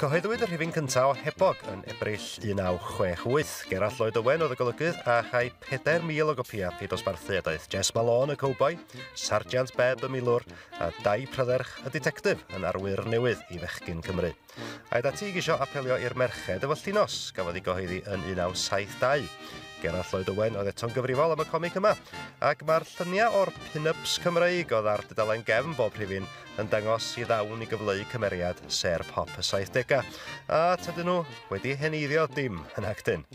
Cyhoeddwyd y rhifyn cyntaf o Hebog yn Ebrill 1968. Gerallt Lloyd Owen oedd y golygydd a chai 4,000 o gopïau pe dosbarthu a daeth Jess Malone y cowboi, Sargeant Beb y milwr a Dai Prydderch y ditectif yn arwyr newydd i fechgyn Cymru. Aed ati i gisio apelio i'r merched efo llinos gafodd ei gyhoeddi yn 1972. Gerallt Lloyd Owen oedd eto'n gyfrifol am y comic yma, ac mae'r lluniau o'r pin-ups Cymreig oedd ar dudalen gefn bob rhifyn yn dangos i ddawn i gyfleu cymeriad ser pop y 70au, a tydyn nhw wedi heneiddio dim yn actyn.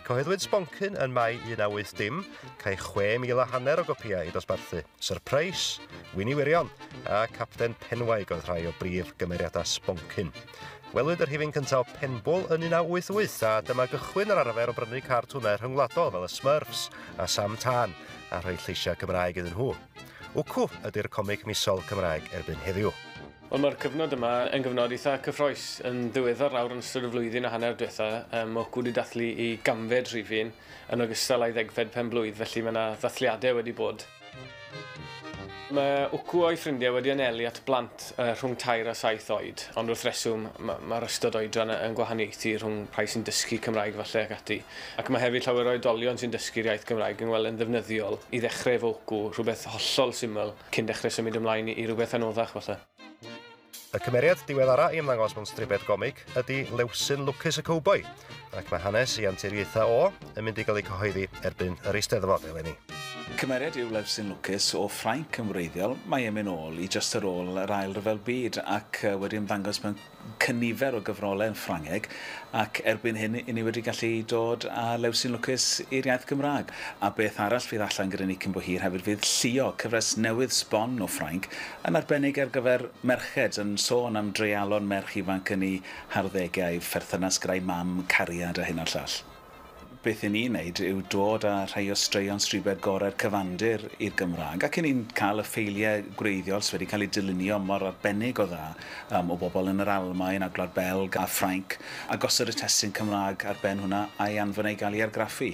Cyhoeddwyd Sboncyn yn Mai 18 dim, cael 6,000 a hanner o gopïau i dosbarthu. Surprise, Wini Wirion a Capten Penwaig oedd rhai o brif gymeriadau Sboncyn. Welwyd yr hifin cyntaf o Penbwl yn 1988 a dyma gychwyn yr arfer o brynu cartwnau rhyngwladol fel y Smurfs a Sam Tân a rhoi lleisiau Cymraeg iddyn nhw. Wcw ydy'r comic misol Cymraeg erbyn heddiw. Wel mae'r cyfnod yma yn gyfnod eitha cyffroes. Yn ddiweddar nawr yn ystod y flwyddyn a hanner diwetha, um, Wcw wedi dathlu i gamfed rhifyn yn ogystal â'i ddegfed penblwydd, felly mae yna ddathliadau wedi bod. Mae Wcw a'i ffrindiau wedi anelu at blant uh, rhwng tair a saith oed, ond wrth reswm mae'r ystod oedran yn gwahaniaethu rhwng rhai sy'n dysgu Cymraeg falle ac ati. Ac mae hefyd llawer o oedolion sy'n dysgu'r iaith Gymraeg yn ngweld e'n ddefnyddiol i ddechrau efo wcw, rhywbeth hollol syml, cyn dechrau symud ymlaen i rywbeth anoddach falle. Y cymeriad diweddara' i ymddangos mewn stribed gomig ydi Lewsyn Lwcus y Cowboi, ac mae hanes ei anturiaethau o yn mynd i gael eu cyhoeddi erbyn yr Eisteddfod eleni. Cymeriad yw Lewsyn Lwcus o Ffrainc yn wreiddiol, mae e'n mynd nôl i jyst ar ôl yr Ail Ryfel Byd ac wedi ymddangos mewn cynifer o gyfrolau yn Ffrangeg ac erbyn hyn i ni wedi gallu dod â Lewsyn Lwcus i'r iaith Gymraeg. A beth arall fydd allan gyda ni cyn bo hir hefyd fydd Llio, cyfres newydd sbon o Ffrainc, yn arbennig ar gyfer merched, yn sôn am dreialon merch ifanc yn eu harddegau, perthynas gyda'i mam, cariad a hyn a'r llall. Beth i ni wneud yw dod â rhai o straeon stribed gorau'r cyfandir i'r Gymraeg ac i ni'n cael y ffeiliau gwreiddiol sydd wedi cael eu dylunio mor arbennig o dda um, o bobl yn yr Almaen a Gwlad Belg a Ffrainc a gosod y testun Cymraeg ar ben hwnna a'i anfon ei gael ei argraffu.